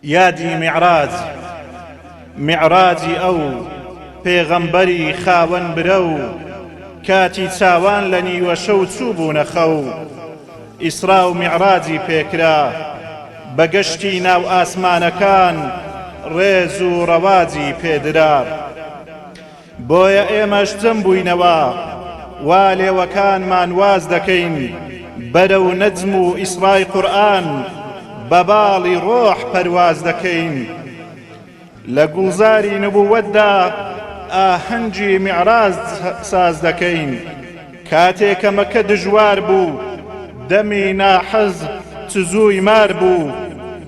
یادی میعراج، میعراجی ئەو پێغەمبەری خاوەن برەو کاتی چاوان لە نیوە شەو چووبوونە خەو، ئیسرا و میعراجی پێکرا، بە گەشتی ناو ئاسمانەکان ڕێز و ڕەواجی پێدرا. بۆیە ئێمەش چەم بووینەوە وا لێوەکانمان واز دەکەین بەرەو نەجم و ئیسرای قورئان بە باڵی ڕۆح پەرواز دەکەین لە گوڵزاری نبووەتدا ئاهەنگی میعراج ساز دەکەین کاتێ کە مەکە دژوار بوو دەمی ناحەز تزووی مار بوو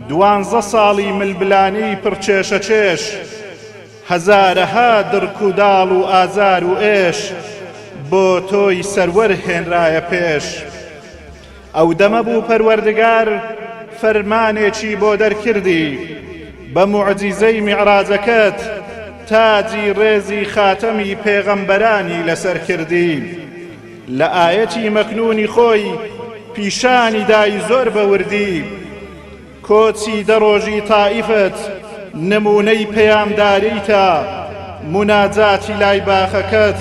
دوانزە ساڵی ململانێی پڕ کێشەکێش. هەزارەها دڕک و داڵ و ئازار و ئێش بۆ تۆی سەروەر هێنرایە پێش ئەو دەمە بوو پەروەردگار فەرمانێکی بۆ دەرکردی بە موعجیزەی میعراجەکەت تاجی ڕێزی خاتەمی پێغەمبەرانی لەسەر کردی لە ئایەتی مەکنونی خۆی پیشانی دای زۆر بە وردی کۆچی دە ڕۆژی تائیفت نموونەی پەیامداریتە، موناجاتی لای باخەکەت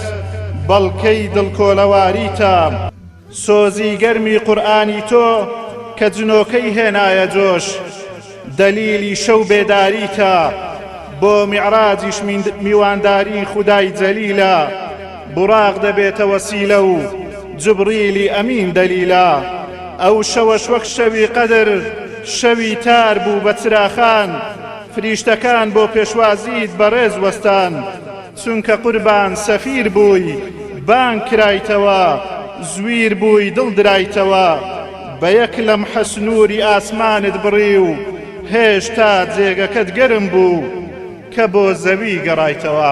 بەڵکەی دڵکۆلەواریتە. سۆزی گەرمی قورئانی تۆ کە جنۆکەی هێنایە جۆش، دەلیلی شەو بێداریتە، بۆ میعراجیش میوانداری خودای جەلیلە. بوراق دەبێتە وەسیلە و جبریلی ئەمین دەلیلا ئەو شەوەش وەک شەوی قەدر شەوی تار بوو بە چراخان فریشتەکان بۆ پێشوازیت بەڕێز وەستان چونکە قوربان سەفیر بووی بانگ کرایتەوە زویر بووی دڵ درایتەوە بە یەک لەمحە سنووری ئاسمانت بڕی و هێشتا جێگەکەت گەرم بوو کە بۆ زەوی گەڕایتەوە.